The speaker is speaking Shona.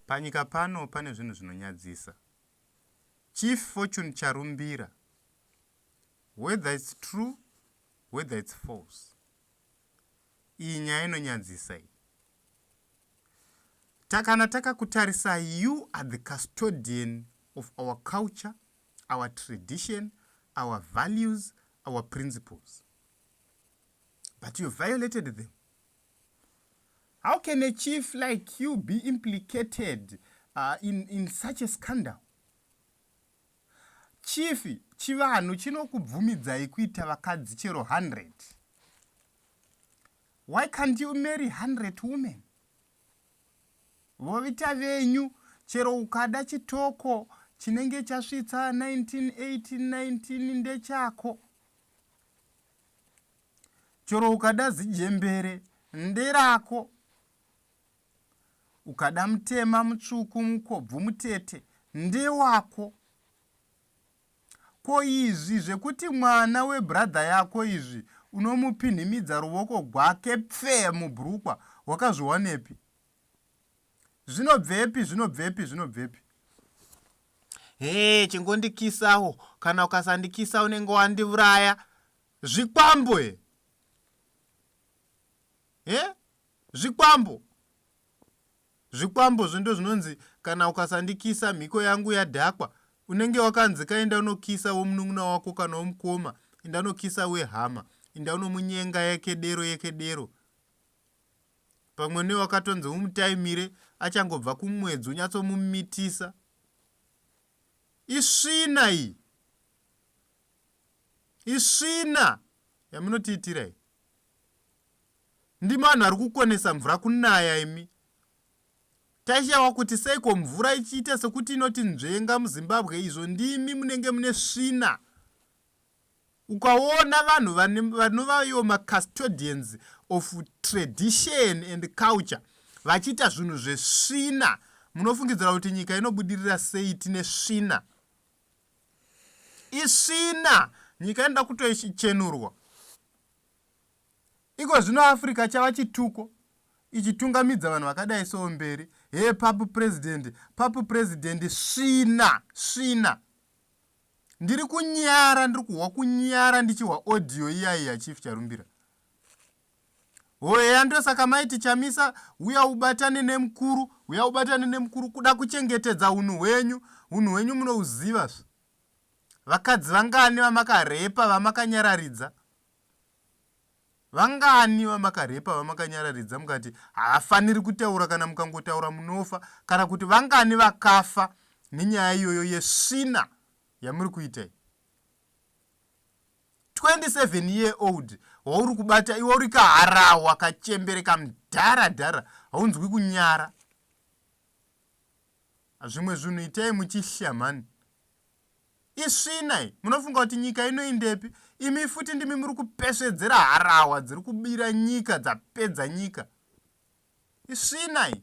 Panyika pano pane zvinhu zvinonyadzisa. Chief Fortune Charumbira, whether it's true, whether it's false, iyi nyaya inonyadzisa iyi. Takana takakutarisa, you are the custodian of our culture, our tradition, our values, our principles. But you violated them. how can a chief like you be implicated uh, in, in such a scandal chief chivanhu chinokubvumidzai kuita vakadzi chero 100 why can't you marry 100 women vovita venyu chero ukada chitoko chinenge chasvitsa 1918 19 ndechako chero ukada zijembere nderako ukada mutema mutsvuku mukobvu mutete ndewako ko izvi zvekuti mwana webradha yako izvi unomupinhimidza ruvoko gwake pfee mubrukwa wakazviwanepi zvinobvepi zvinobvepi zvinobvepi hee chingondikisawo kana ukasandikisa unenge wandivuraya Zvikwambo e. Eh? Zvikwambo. Zvikwambo zvindo zvinonzi kana ukasandikisa mhiko yangu yadhakwa unenge wakanzi kaenda unokisa womunun'una wako kana womukoma enda unokisa wehama enda unomunyenga yekedero yekedero pamwe newakatonzi umutaimire achangobva kumwedzi unyatsomumitisa isvina iyi Isvina yamunotiitira iyi. Ndimi vanhu vari kukonesa mvura kunaya imi. Taishawa kuti seiko mvura ichiita sekuti inoti nzvenga muZimbabwe izvo ndimi munenge mune svina. Ukaona vanhu vanovayo macustodians of tradition and culture vachiita zvinhu zvesvina munofungidzira kuti nyika inobudirira sei tine svina. isvina nyika inoda kutochenurwa iko zvino africa chava chituko ichitungamidza vanhu vakadai soo mberi hee papu purezidendi papu purezidendi svina svina ndiri kunyara ndiri kuhwa kunyara ndichihwa audio iyaiya chief charumbira Hoeya ndosaka maiti chamisa uya ubatane nemukuru uya ubatane nemukuru kuda kuchengetedza unhu hwenyu unhu hwenyu munouziva zve vakadzi vangani vamakarepa vamakanyararidza vangani vamakarepa vamakanyararidza mukati haafaniri kutaura kana mukangotaura munofa kana kuti vangani vakafa nenyaya iyoyo yesvina yamuri kuita iyi 27 year old wauri kubata iwe uri kaharawa kachembere kamdhara dhara haunzwi kunyara zvimwe zvinhu itai muchishya mhani isvinai munofunga kuti nyika inoindepi imi futi ndimi muri kupesvedzera harawa dziri kubira nyika dzapedza nyika isvinai